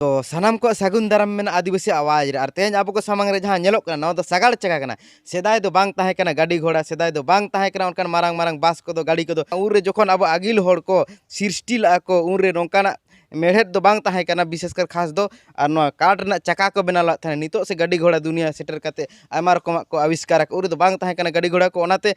ᱛᱚ ᱥᱟᱱᱟᱢ ᱠᱚᱣᱟᱜ ᱥᱟᱹᱜᱩᱱ ᱫᱟᱨᱟᱢ ᱢᱮᱱᱟᱜᱼᱟ ᱟᱹᱫᱤᱵᱟᱹᱥᱤ ᱟᱣᱟᱡᱽ ᱨᱮ ᱟᱨ ᱛᱮᱦᱮᱧ ᱟᱵᱚ ᱠᱚ ᱥᱟᱢᱟᱝ ᱨᱮ ᱡᱟᱦᱟᱸ ᱧᱮᱞᱚᱜ ᱠᱟᱱᱟ ᱱᱚᱣᱟ ᱫᱚ ᱥᱟᱜᱟᱲ ᱪᱟᱠᱟ ᱠᱟᱱᱟ ᱥᱮᱫᱟᱭ ᱫᱚ ᱵᱟᱝ ᱛᱟᱦᱮᱸ ᱠᱟᱱᱟ ᱜᱟᱹᱰᱤ ᱜᱷᱚᱲᱟ ᱥᱮᱫᱟᱭ ᱫᱚ ᱵᱟᱝ ᱛᱟᱦᱮᱸ ᱠᱟᱱᱟ ᱚᱱᱠᱟᱱ ᱢᱟᱨᱟᱝ ᱢᱟᱨᱟᱝ ᱵᱟᱥ ᱠᱚᱫᱚ ᱜᱟᱹᱰᱤ ᱠᱚᱫᱚ ᱩᱱ ᱨᱮ ᱡᱚᱠᱷᱚᱱ ᱟᱵᱚ ᱟᱹᱜᱤᱞ ᱦᱚᱲ ᱠᱚ ᱥᱨᱤᱥᱴᱤ ᱞᱟᱜᱼᱟ ᱠᱚ ᱩᱱ ᱨᱮ ᱱᱚᱝᱠᱟᱱᱟᱜ ᱢᱮᱬᱦᱮᱫ ᱫᱚ ᱵᱟᱝ ᱛᱟᱦᱮᱸ ᱠᱟᱱᱟ ᱵᱤᱥᱮᱥ ᱠᱟᱨ ᱠᱷᱟᱥ ᱫᱚ ᱟᱨ ᱱᱚᱣᱟ ᱠᱟᱴ ᱨᱮᱱᱟᱜ ᱪᱟᱠᱟ ᱠᱚ ᱵᱮᱱᱟᱣ ᱞᱟᱜ ᱛᱟᱦᱮᱸᱫ ᱱᱤᱛᱚᱜ ᱥᱮ ᱜᱟᱹᱰᱤ ᱜᱷᱚᱲᱟ ᱫᱩᱱᱤᱭᱟᱹ ᱥᱮᱴᱮᱨ ᱠᱟᱛᱮ ᱟᱭᱢᱟ ᱨᱚᱠᱚᱢᱟᱜ ᱠᱚ ᱟᱵᱤᱥᱠᱟᱨ ᱟᱠᱟᱫ ᱩᱱ ᱨᱮᱫᱚ ᱵᱟᱝ ᱛᱟᱦᱮᱸ ᱠᱟᱱᱟ ᱜᱟᱹᱰᱤ ᱜᱷᱚᱲᱟ ᱠᱚ ᱚᱱᱟᱛᱮ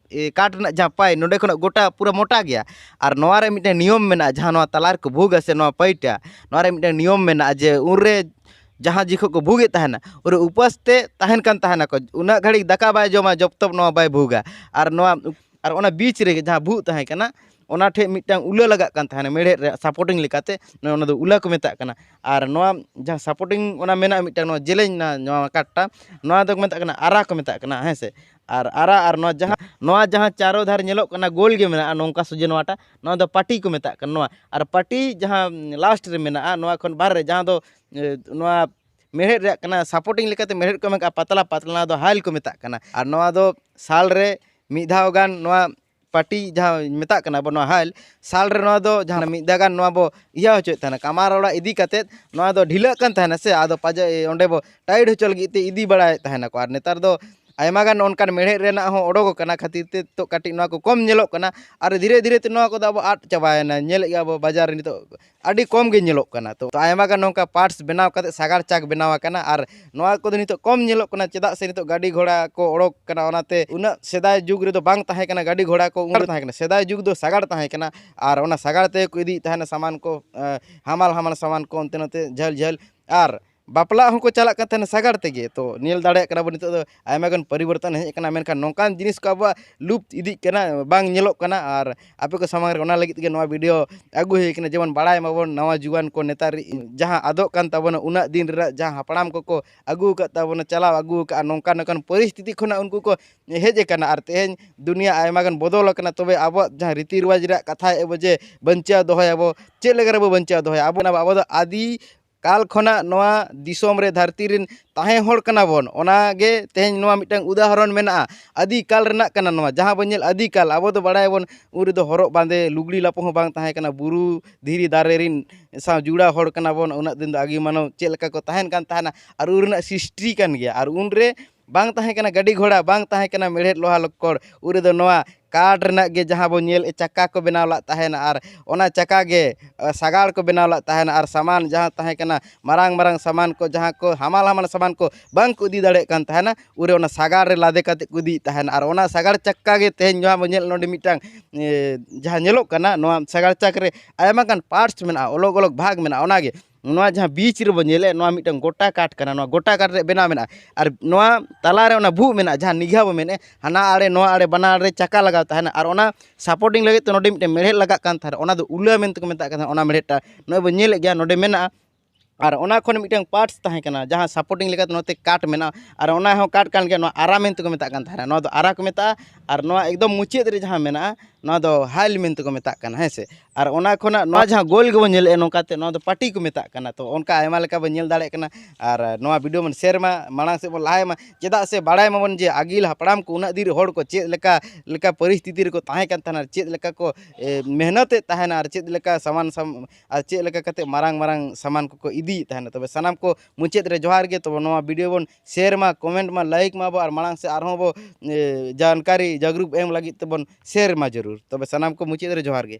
ᱠᱟᱴ ᱨᱮᱱᱟᱜ ᱡᱟᱦᱟᱸ ᱯᱟᱭ ᱱᱚᱸᱰᱮ ᱠᱷᱚᱱᱟᱜ ᱜᱚᱴᱟ ᱯᱩᱨᱟᱹ ᱢᱚᱴᱟ ᱜᱮᱭᱟ ᱟᱨ ᱱᱚᱣᱟ ᱨᱮ ᱢᱤᱫᱴᱮᱱ ᱱᱤᱭᱚᱢ ᱢᱮᱱᱟᱜᱼᱟ ᱡᱟᱦᱟᱸ ᱱᱚᱣᱟ ᱛᱟᱞᱟ ᱨᱮᱠᱚ ᱵᱷᱩᱜᱟ ᱥᱮ ᱱᱚᱣᱟ ᱯᱟᱹᱭᱴᱟ ᱱᱚᱣᱟ ᱨᱮ ᱢᱤᱫᱴᱮᱱ ᱱᱤᱭᱚᱢ ᱢᱮᱱᱟᱜᱼᱟ ᱡᱮ ᱩᱱ ᱨᱮ ᱡᱟᱦᱟᱸ ᱡᱚᱠᱷᱚᱱ ᱠᱚ ᱵᱷᱩᱜᱮᱫ ᱛᱟᱦᱮᱱᱟ ᱩᱱᱨᱮ ᱩᱯᱟᱹᱥ ᱛᱮ ᱛᱟᱦᱮᱱ ᱠᱟᱱ ᱛᱟᱦᱮᱱᱟᱠᱚ ᱩᱱᱟᱹᱜ ᱜᱷᱟᱹᱲᱤᱡ ᱫᱟᱠᱟ ᱵᱟᱭ ᱡᱚᱢᱟ ᱡᱚᱵᱽ ᱛᱚᱠ ᱱᱚᱣᱟ ᱵᱟᱭ ᱵᱷᱩᱜᱟ ᱟᱨ ᱱᱚᱣᱟ ᱟᱨ ᱚᱱᱟ ᱵᱤᱪ ᱨᱮᱜᱮ ᱡᱟᱦᱟᱸ ᱵᱷᱩᱜ ᱛᱟᱦᱮᱸ ᱠᱟᱱᱟ ᱚᱱᱟ ᱴᱷᱮᱱ ᱢᱤᱫᱴᱟᱱ ᱩᱞᱟᱹ ᱞᱟᱜᱟᱜ ᱠᱟᱱ ᱛᱟᱦᱮᱱᱟ ᱢᱮᱬᱦᱮᱫ ᱨᱮ ᱥᱟᱯᱳᱴᱤᱝ ᱞᱮᱠᱟᱛᱮ ᱚᱱᱟ ᱫᱚ ᱩᱞᱟᱹ ᱠᱚ ᱢᱮᱛᱟᱜ ᱠᱟᱱᱟ ᱟᱨ ᱱᱚᱣᱟ ᱡᱟᱦᱟᱸ ᱥᱟᱯᱳᱴᱤᱝ ᱚᱱᱟ ᱢᱮᱱᱟᱜᱼᱟ ᱢᱤᱫᱴᱟᱱ ᱡᱮᱞᱮᱧ ᱱᱚᱣᱟ ᱠᱟᱴ ᱴᱟᱜ ᱱᱚᱣᱟ ᱫᱚᱠᱚ ᱢᱮᱛᱟᱜ ᱠᱟᱱᱟ ᱟᱨᱟ ᱠᱚ ᱢᱮᱛᱟᱜ ᱠᱟᱱᱟ ᱦᱮᱸ ᱥᱮ ᱟᱨ ᱟᱨᱟᱜ ᱟᱨ ᱱᱚᱣᱟ ᱡᱟᱦᱟᱸ ᱱᱚᱣᱟ ᱡᱟᱦᱟᱸ ᱪᱟᱨᱚ ᱫᱷᱟᱨᱮ ᱧᱮᱞᱚᱜ ᱠᱟᱱᱟ ᱜᱳᱞ ᱜᱮ ᱢᱮᱱᱟᱜᱼᱟ ᱱᱚᱝᱠᱟ ᱥᱚᱡᱷᱮ ᱱᱚᱣᱟᱴᱟᱜ ᱱᱚᱣᱟ ᱫᱚ ᱯᱟᱹᱴᱤ ᱠᱚ ᱢᱮᱛᱟᱜ ᱠᱟᱱᱟ ᱱᱚᱣᱟ ᱟᱨ ᱯᱟᱹᱴᱤ ᱡᱟᱦᱟᱸ ᱞᱟᱥᱴ ᱨᱮ ᱢᱮᱱᱟᱜᱼᱟ ᱱᱚᱣᱟ ᱠᱷᱚᱱ ᱵᱟᱦᱨᱮ ᱨᱮ ᱡᱟᱦᱟᱸ ᱫᱚ ᱱᱚᱣᱟ ᱢᱮᱬᱦᱮᱫ ᱨᱮᱭᱟᱜ ᱠᱟᱱᱟ ᱥᱟᱯᱳᱴᱤᱝ ᱞᱮᱠᱟᱛᱮ ᱢᱮᱬᱦᱮᱫ ᱠᱚ ᱮᱢ ᱠᱟᱜᱼᱟ ᱯᱟᱛᱞᱟ ᱯᱟᱛᱞᱟ ᱱᱚᱣᱟ ᱫᱚ ᱦᱟᱭᱮᱞ ᱠᱚ ᱢᱮᱛᱟᱜ ᱠᱟᱱᱟ ᱟᱨ ᱱᱚᱣᱟ ᱫᱚ ᱥᱟᱞ ᱨᱮ ᱢᱤᱫ ᱫᱷᱟᱣ ᱜᱟᱱ ᱱᱚᱣᱟ ᱯᱟᱴᱤ ᱡᱟᱦᱟᱸ ᱢᱮᱛᱟᱜ ᱠᱟᱱᱟ ᱵᱚ ᱱᱚᱣᱟ ᱦᱟᱞ ᱥᱟᱞ ᱨᱮ ᱱᱚᱣᱟ ᱫᱚ ᱡᱟᱦᱟᱸ ᱢᱤᱫ ᱫᱷᱟᱣ ᱜᱟᱱ ᱱᱚᱣᱟ ᱵᱚ ᱤᱭᱟᱹ ᱦᱚᱪᱚᱭᱮᱫ ᱛᱟᱦᱮᱱᱟ ᱠᱟᱢᱟᱨ ᱚᱲᱟᱜ ᱤᱫᱤ ᱠᱟᱛᱮᱫ ᱱᱚᱣᱟ ᱫᱚ ᱰᱷᱤᱞᱟᱹᱜ ᱠᱟᱱ ᱛᱟᱦᱮᱱᱟ ᱥᱮ ᱟᱫᱚ ᱯᱟᱪᱮᱫ ᱚᱸᱰᱮ ᱵᱚ ᱴᱟᱭᱤᱴ ᱦᱚᱪᱚ ᱞᱟᱹᱜᱤᱫ ᱛᱮ ᱤᱫᱤ ᱵᱟᱲᱟᱭᱮᱫ ᱛᱟᱦᱮᱱᱟ ᱠᱚ ᱟᱨ ᱱᱮᱛᱟᱨ ᱫᱚ ᱟᱭᱢᱟ ᱜᱟᱱ ᱚᱱᱠᱟᱱ ᱢᱮᱬᱦᱮᱫ ᱨᱮᱱᱟᱜ ᱦᱚᱸ ᱚᱰᱚᱠ ᱠᱟᱱᱟ ᱠᱷᱟᱹᱛᱤᱨ ᱛᱮ ᱱᱤᱛᱚᱜ ᱠᱟᱹᱴᱤᱡ ᱱᱚᱣᱟ ᱠᱚ ᱠᱚᱢ ᱧᱮᱞᱚᱜ ᱠᱟᱱᱟ ᱟᱨ ᱫᱷᱤᱨᱮ ᱫᱷᱤᱨᱮ ᱛᱮ ᱱᱚᱣᱟ ᱠᱚᱫᱚ ᱟᱵᱚ ᱟᱫ ᱪᱟᱵᱟᱭᱮᱱᱟ ᱧᱮᱞᱮᱫ ᱜᱮᱭᱟ ᱵᱚ ᱵᱟᱡᱟᱨ ᱨᱮ ᱱᱤᱛᱚᱜ ᱟᱹᱰᱤ ᱠᱚᱢ ᱜᱮ ᱧᱮᱞᱚᱜ ᱠᱟᱱᱟ ᱛᱚ ᱟᱭᱢᱟ ᱜᱟᱱ ᱱᱚᱝᱠᱟ ᱯᱟᱨᱴᱥ ᱵᱮᱱᱟᱣ ᱠᱟᱛᱮ ᱥᱟᱜᱟᱲ ᱪᱟᱠ ᱵᱮᱱᱟᱣ ᱟᱠᱟᱱᱟ ᱟᱨ ᱱᱚᱣᱟ ᱠᱚᱫᱚ ᱱᱤᱛᱚᱜ ᱠᱚᱢ ᱧᱮᱞᱚᱜ ᱠᱟᱱᱟ ᱪᱮᱫᱟᱜ ᱥᱮ ᱱᱤᱛᱚᱜ ᱜᱟᱹᱰᱤ ᱜᱷᱚᱲᱟ ᱠᱚ ᱚᱰᱚᱠ ᱠᱟᱱᱟ ᱚᱱᱟᱛᱮ ᱩᱱᱟᱹᱜ ᱥᱮᱫᱟᱭ ᱡᱩᱜᱽ ᱨᱮᱫᱚ ᱵᱟᱝ ᱛᱟᱦᱮᱸ ᱠᱟᱱᱟ ᱜᱟᱹᱰᱤ ᱜᱷᱚᱲᱟ ᱠᱚ ᱩᱱᱟᱹᱜ ᱛᱟᱦᱮᱸ ᱠᱟᱱᱟ ᱥᱮᱫᱟᱭ ᱡᱩᱜᱽ ᱫᱚ ᱥᱟᱜᱟᱲ ᱛᱟᱦᱮᱸ ᱠᱟᱱᱟ ᱟᱨ ᱚᱱᱟ ᱥᱟᱜᱟᱲ ᱛᱮᱜᱮ ᱠᱚ ᱤᱫᱤᱭᱮᱫ ᱛᱟᱦᱮᱱᱟ ᱥᱟᱢᱟᱱ ᱠᱚ ᱦᱟᱢᱟᱞ ᱦᱟᱢᱟᱞ ᱥᱟᱢᱟᱱ ᱠᱚ ᱚᱱᱛᱮ ᱱᱚᱛᱮ ᱡᱷᱟᱹᱞ ᱡᱷᱟᱹᱞ ᱟᱨ ᱵᱟᱯᱞᱟᱜ ᱦᱚᱸᱠᱚ ᱪᱟᱞᱟᱜ ᱠᱟᱱ ᱛᱟᱦᱮᱱᱟ ᱥᱟᱜᱟᱲ ᱛᱮᱜᱮ ᱛᱚ ᱧᱮᱞ ᱫᱟᱲᱮᱭᱟᱜ ᱠᱟᱱᱟ ᱵᱚᱱ ᱱᱤᱛᱚᱜ ᱫᱚ ᱟᱭᱢᱟ ᱜᱟᱱ ᱯᱚᱨᱤᱵᱚᱨᱛᱚᱱ ᱦᱮᱡ ᱠᱟᱱᱟ ᱢᱮᱱᱠᱷᱟᱱ ᱱᱚᱝᱠᱟᱱ ᱡᱤᱱᱤᱥ ᱠᱚ ᱟᱵᱚᱣᱟᱜ ᱞᱩᱯᱛ ᱤᱫᱤᱜ ᱠᱟᱱᱟ ᱵᱟᱝ ᱧᱮᱞᱚᱜ ᱠᱟᱱᱟ ᱟᱨ ᱟᱯᱮ ᱠᱚ ᱥᱟᱢᱟᱝ ᱨᱮ ᱚᱱᱟ ᱞᱟᱹᱜᱤᱫ ᱛᱮᱜᱮ ᱱᱚᱣᱟ ᱵᱷᱤᱰᱤᱭᱳ ᱟᱹᱜᱩ ᱦᱩᱭ ᱠᱟᱱᱟ ᱡᱮᱢᱚᱱ ᱵᱟᱲᱟᱭ ᱢᱟᱵᱚᱱ ᱱᱟᱣᱟ ᱡᱩᱣᱟᱹᱱ ᱠᱚ ᱱᱮᱛᱟᱨ ᱡᱟᱦᱟᱸ ᱟᱫᱚᱜ ᱠᱟᱱ ᱛᱟᱵᱚᱱᱟ ᱩᱱᱟᱹᱜ ᱫᱤᱱ ᱨᱮᱱᱟᱜ ᱡᱟᱦᱟᱸ ᱦᱟᱯᱲᱟᱢ ᱠᱚᱠᱚ ᱟᱹᱜᱩ ᱟᱠᱟᱫ ᱛᱟᱵᱚᱱᱟ ᱪᱟᱞᱟᱣ ᱟᱹᱜᱩ ᱟᱠᱟᱫᱼᱟ ᱱᱚᱝᱠᱟ ᱱᱚᱝᱠᱟᱱ ᱯᱚᱨᱤᱥᱛᱷᱤᱛᱤ ᱠᱷᱚᱱᱟᱜ ᱩᱱᱠᱩ ᱠᱚ ᱦᱮᱡ ᱠᱟᱱᱟ ᱟᱨ ᱛᱮᱦᱮᱧ ᱫᱩᱱᱤᱭᱟᱹ ᱟᱭᱢᱟ ᱜᱟᱱ ᱵᱚᱫᱚᱞ ᱟᱠᱟᱱᱟ ᱛᱚᱵᱮ ᱟᱵᱚᱣᱟᱜ ᱡᱟᱦᱟᱸ ᱨᱤᱛᱤ ᱨᱮᱣᱟᱡᱽ ᱨᱮᱭᱟᱜ ᱠᱟᱛᱷᱟᱭᱮᱫᱼᱟ ᱵᱚᱱ ᱡᱮ ᱵᱟᱧᱪᱟᱣ ᱫᱚᱦᱚᱭᱟᱵᱚ ᱪᱮᱫ ᱞᱮᱠᱟ ᱨᱮᱵᱚ ᱵᱟᱧᱪᱟᱣ ᱫᱚᱦᱚᱭᱟ ᱟᱵᱚ ᱫᱚ ᱟᱹᱫᱤ ᱠᱟᱞ ᱠᱷᱚᱱᱟᱜ ᱱᱚᱣᱟ ᱫᱤᱥᱚᱢ ᱨᱮ ᱫᱷᱟᱹᱨᱛᱤ ᱨᱮᱱ ᱛᱟᱦᱮᱸ ᱦᱚᱲ ᱠᱟᱱᱟ ᱵᱚᱱ ᱚᱱᱟ ᱜᱮ ᱛᱮᱦᱮᱧ ᱱᱚᱣᱟ ᱢᱤᱫᱴᱟᱝ ᱩᱫᱟᱦᱚᱨᱚᱱ ᱢᱮᱱᱟᱜᱼᱟ ᱟᱹᱫᱤ ᱠᱟᱞ ᱨᱮᱱᱟᱜ ᱠᱟᱱᱟ ᱱᱚᱣᱟ ᱡᱟᱦᱟᱸ ᱵᱚᱱ ᱧᱮᱞ ᱟᱹᱫᱤ ᱠᱟᱞ ᱟᱵᱚ ᱫᱚ ᱵᱟᱲᱟᱭ ᱟᱵᱚᱱ ᱩᱱ ᱨᱮᱫᱚ ᱦᱚᱨᱚᱜ ᱵᱟᱸᱫᱮ ᱞᱩᱜᱽᱲᱤ ᱞᱟᱯᱚ ᱦᱚᱸ ᱵᱟᱝ ᱛᱟᱦᱮᱸ ᱠᱟᱱᱟ ᱵᱩᱨᱩ ᱫᱷᱤᱨᱤ ᱫᱟᱨᱮ ᱨᱮᱱ ᱥᱟᱶ ᱡᱚᱲᱟᱣ ᱦᱚᱲ ᱠᱟᱱᱟ ᱵᱚᱱ ᱩᱱᱟᱹᱜ ᱫᱤᱱ ᱫᱚ ᱟᱹᱜᱤᱞ ᱢᱟᱱᱣᱟ ᱪᱮᱫ ᱞᱮᱠᱟ ᱠᱚ ᱛᱟᱦᱮᱱ ᱠᱟᱱ ᱛᱟᱦᱮᱱᱟ ᱟᱨ ᱩᱱ ᱨᱮᱱᱟᱜ ᱥᱨᱤᱥᱴᱤ ᱠᱟᱱ ᱜᱮᱭᱟ ᱟᱨ ᱩᱱ ᱨᱮ ᱵᱟᱝ ᱛᱟᱦᱮᱸ ᱠᱟᱱᱟ ᱜᱟᱹᱰᱤ ᱜᱷᱚᱲᱟ ᱵᱟᱝ ᱛᱟᱦᱮᱸ ᱠᱟᱱᱟ ᱢᱮᱬᱦᱮᱫ ᱞᱚᱦᱟ ᱞᱚᱠᱠᱚᱲ ᱩᱱ ᱨᱮᱫᱚ ᱱᱚᱣᱟ ᱠᱟᱴ ᱨᱮᱱᱟᱜ ᱜᱮ ᱡᱟᱦᱟᱸ ᱵᱚᱱ ᱧᱮᱞᱮᱫ ᱪᱟᱠᱟ ᱠᱚ ᱵᱮᱱᱟᱣ ᱞᱮᱫ ᱛᱟᱦᱮᱱ ᱟᱨ ᱚᱱᱟ ᱪᱟᱠᱟ ᱜᱮ ᱥᱟᱜᱟᱲ ᱠᱚ ᱵᱮᱱᱟᱣ ᱞᱮᱫ ᱛᱟᱦᱮᱱ ᱟᱨ ᱥᱟᱢᱟᱱ ᱡᱟᱦᱟᱸ ᱛᱟᱦᱮᱸ ᱠᱟᱱᱟ ᱢᱟᱨᱟᱝ ᱢᱟᱨᱟᱝ ᱥᱟᱢᱟᱱ ᱠᱚ ᱡᱟᱦᱟᱸ ᱠᱚ ᱦᱟᱢᱟᱞ ᱦᱟᱢᱟᱞ ᱥᱟᱢᱟᱱ ᱠᱚ ᱵᱟᱝ ᱠᱚ ᱤᱫᱤ ᱫᱟᱲᱮᱭᱟᱜ ᱠᱟᱱ ᱛᱟᱦᱮᱱᱟ ᱩᱱ ᱨᱮ ᱚᱱᱟ ᱥᱟᱜᱟᱲ ᱨᱮ ᱞᱟᱫᱮ ᱠᱟᱛᱮᱫ ᱠᱚ ᱤᱫᱤᱭᱮᱫ ᱛᱟᱦᱮᱱ ᱟᱨ ᱚᱱᱟ ᱥᱟᱜᱟᱲ ᱪᱟᱠᱟ ᱜᱮ ᱛᱮᱦᱮᱧ ᱱᱚᱣᱟ ᱵᱚᱱ ᱧᱮᱞ ᱱᱚᱰᱮ ᱢᱤᱫᱴᱟᱝ ᱡᱟᱦᱟᱸ ᱧᱮᱞᱚᱜ ᱠᱟᱱᱟ ᱱᱚᱣᱟ ᱥᱟᱜᱟᱲ ᱪᱟᱠᱟ ᱨᱮ ᱟᱭᱢᱟ ᱜᱟᱱ ᱯᱟᱨᱴᱥ ᱢᱮᱱᱟᱜᱼᱟ ᱚᱞᱚᱜᱽ ᱚᱞᱚᱜᱽ ᱵᱷᱟᱜᱽ ᱢᱮᱱᱟᱜᱼᱟ ᱚᱱᱟ ᱜᱮ ᱱᱚᱣᱟ ᱡᱟᱦᱟᱸ ᱵᱤᱪ ᱨᱮᱵᱚᱱ ᱧᱮᱞᱮᱫ ᱱᱚᱣᱟ ᱢᱤᱫᱴᱟᱝ ᱜᱚᱴᱟ ᱠᱟᱴ ᱠᱟᱱᱟ ᱱᱚᱣᱟ ᱜᱚᱴᱟ ᱠᱟᱴ ᱨᱮᱭᱟᱜ ᱵᱮᱱᱟᱣ ᱢᱮᱱᱟᱜᱼᱟ ᱟᱨ ᱱᱚᱣᱟ ᱛᱟᱞᱟ ᱨᱮ ᱚᱱᱟ ᱵᱷᱩᱜᱟᱹᱜ ᱢᱮᱱᱟᱜᱼᱟ ᱡᱟᱦᱟᱸ ᱱᱤᱜᱷᱟ ᱵᱚᱱ ᱢᱮᱱᱮᱫ ᱦᱟᱱᱟ ᱟᱲᱮ ᱱᱚᱣᱟ ᱟᱲᱮ ᱵᱟᱱᱟᱨ ᱨᱮ ᱪᱟᱠᱟ ᱞᱟᱜᱟᱣ ᱛᱟᱦᱮᱱᱟ ᱟᱨ ᱚᱱᱟ ᱥᱟᱯᱳᱴᱤᱝ ᱞᱟᱹᱜᱤᱫ ᱛᱮ ᱱᱚᱰᱮ ᱢᱤᱫᱴᱮᱱ ᱢᱮᱬᱦᱮᱫ ᱞᱟᱜᱟᱜ ᱠᱟᱱ ᱛᱟᱦᱮᱱᱟ ᱚᱱᱟ ᱫᱚ ᱩᱞᱟᱹ ᱢᱮᱱᱛᱮ ᱠᱚ ᱢᱮᱛᱟᱜ ᱠᱟᱱᱟ ᱚᱱᱟ ᱢᱮᱬᱦᱮᱫ ᱴᱟᱜ ᱱᱚᱜᱼᱚᱭ ᱵᱚᱱ ᱧᱮᱞᱮᱫ ᱜᱮᱭᱟ ᱱᱚᱰᱮ ᱢᱮᱱᱟᱜᱼᱟ ᱟᱨ ᱚᱱᱟ ᱠᱷᱚᱱ ᱢᱤᱫᱴᱟᱝ ᱯᱟᱨᱴᱥ ᱛᱟᱦᱮᱸ ᱠᱟᱱᱟ ᱡᱟᱦᱟᱸ ᱥᱟᱯᱳᱴᱤᱝ ᱞᱮᱠᱟᱛᱮ ᱱᱚᱛᱮ ᱠᱟᱴ ᱢᱮᱱᱟᱜᱼᱟ ᱟᱨ ᱚᱱᱟ ᱦᱚᱸ ᱠᱟᱴ ᱠᱟᱱ ᱜᱮᱭᱟ ᱱᱚᱣᱟ ᱟᱨᱟ ᱢᱮᱱᱛᱮ ᱠᱚ ᱢᱮᱛᱟᱜ ᱠᱟᱱ ᱛᱟᱦᱮᱱᱟ ᱱᱚᱣᱟ ᱫᱚ ᱟᱨᱟ ᱠᱚ ᱢᱮᱛᱟᱜᱼᱟ ᱟᱨ ᱱᱚᱣᱟ ᱮᱠᱫᱚᱢ ᱢᱩᱪᱟᱹᱫ ᱨᱮ ᱡᱟᱦᱟᱸ ᱢᱮᱱᱟᱜᱼᱟ ᱱᱚᱣᱟ ᱫᱚ ᱦᱟᱭᱤᱞ ᱢᱮᱱᱛᱮ ᱠᱚ ᱢᱮᱛᱟᱜ ᱠᱟᱱᱟ ᱦᱮᱸ ᱥᱮ ᱟᱨ ᱚᱱᱟ ᱠᱷᱚᱱᱟᱜ ᱱᱚᱣᱟ ᱡᱟᱦᱟᱸ ᱜᱳᱞ ᱜᱮᱵᱚᱱ ᱧᱮᱞᱮᱫᱼᱟ ᱱᱚᱝᱠᱟᱛᱮ ᱱᱚᱣᱟ ᱫᱚ ᱯᱟᱴᱤ ᱠᱚ ᱢᱮᱛᱟᱜ ᱠᱟᱱᱟ ᱛᱚ ᱚᱱᱠᱟ ᱟᱭᱢᱟ ᱞᱮᱠᱟ ᱵᱚᱱ ᱧᱮᱞ ᱫᱟᱲᱮᱭᱟᱜ ᱠᱟᱱᱟ ᱟᱨ ᱱᱚᱣᱟ ᱵᱷᱤᱰᱭᱳ ᱵᱚᱱ ᱥᱮᱭᱟᱨ ᱢᱟ ᱢᱟᱲᱟᱝ ᱥᱮᱫ ᱵᱚᱱ ᱞᱟᱦᱟᱭ ᱢᱟ ᱪᱮᱫᱟᱜ ᱥᱮ ᱵᱟᱲᱟᱭ ᱢᱟᱵᱚᱱ ᱡᱮ ᱟᱹᱜᱤᱞ ᱦᱟᱯᱲᱟᱢ ᱠᱚ ᱩᱱᱟᱹᱜ ᱫᱤᱱ ᱦᱚᱲ ᱠᱚ ᱪᱮᱫ ᱞᱮᱠᱟ ᱞᱮᱠᱟ ᱯᱚᱨᱤᱥᱛᱷᱤᱛᱤ ᱨᱮᱠᱚ ᱛᱟᱦᱮᱸ ᱠᱟᱱ ᱛᱟᱦᱮᱱᱟ ᱪᱮᱫ ᱞᱮᱠᱟ ᱠᱚ ᱢᱮᱦᱱᱚᱛ ᱮᱜ ᱛᱟᱦᱮᱱᱟ ᱟᱨ ᱪᱮᱫ ᱞᱮᱠᱟ ᱥᱟᱢᱟᱱ ᱟᱨ ᱪᱮᱫ ᱞᱮᱠᱟ ᱠᱟᱛᱮ ᱢᱟᱨᱟᱝ ᱢᱟᱨᱟᱝ ᱥᱟᱢᱟᱱ ᱠᱚᱠᱚ ᱤᱫᱤᱭᱮᱜ ᱛᱟᱦᱮᱱᱟ ᱛᱚᱵᱮ ᱥᱟᱱᱟᱢ ᱠᱚ ᱢᱩᱪᱟᱹᱫ ᱨᱮ ᱡᱚᱦᱟᱨ ᱜᱮ ᱛᱚᱵᱮ ᱱᱚᱣᱟ ᱵᱷᱤᱰᱭᱳ ᱵᱚᱱ ᱥᱮᱭᱟᱨ ᱢᱟ ᱠᱚᱢᱮᱱᱴ ᱢᱟ ᱞᱟᱭᱤᱠ ᱢᱟᱵᱚᱱ ᱟᱨ ᱢᱟᱲᱟᱝ ᱥᱮᱫ ᱟᱨᱦᱚᱸ ᱵᱚ ᱡᱟᱱᱠᱟᱨᱤ ᱡᱟᱜᱽᱨᱩᱠ ᱮᱢ ᱞᱟᱹᱜᱤᱫ ᱛᱮᱵᱚᱱ ᱥᱮᱭᱟᱨ ᱢᱟ ᱡᱟᱹᱨᱩᱲ ᱛᱚᱵᱮ ᱥᱟᱱᱟᱢ ᱠᱚ ᱢᱩᱪᱟᱹᱫ ᱨᱮ ᱡᱚᱦᱟᱨ ᱜᱮ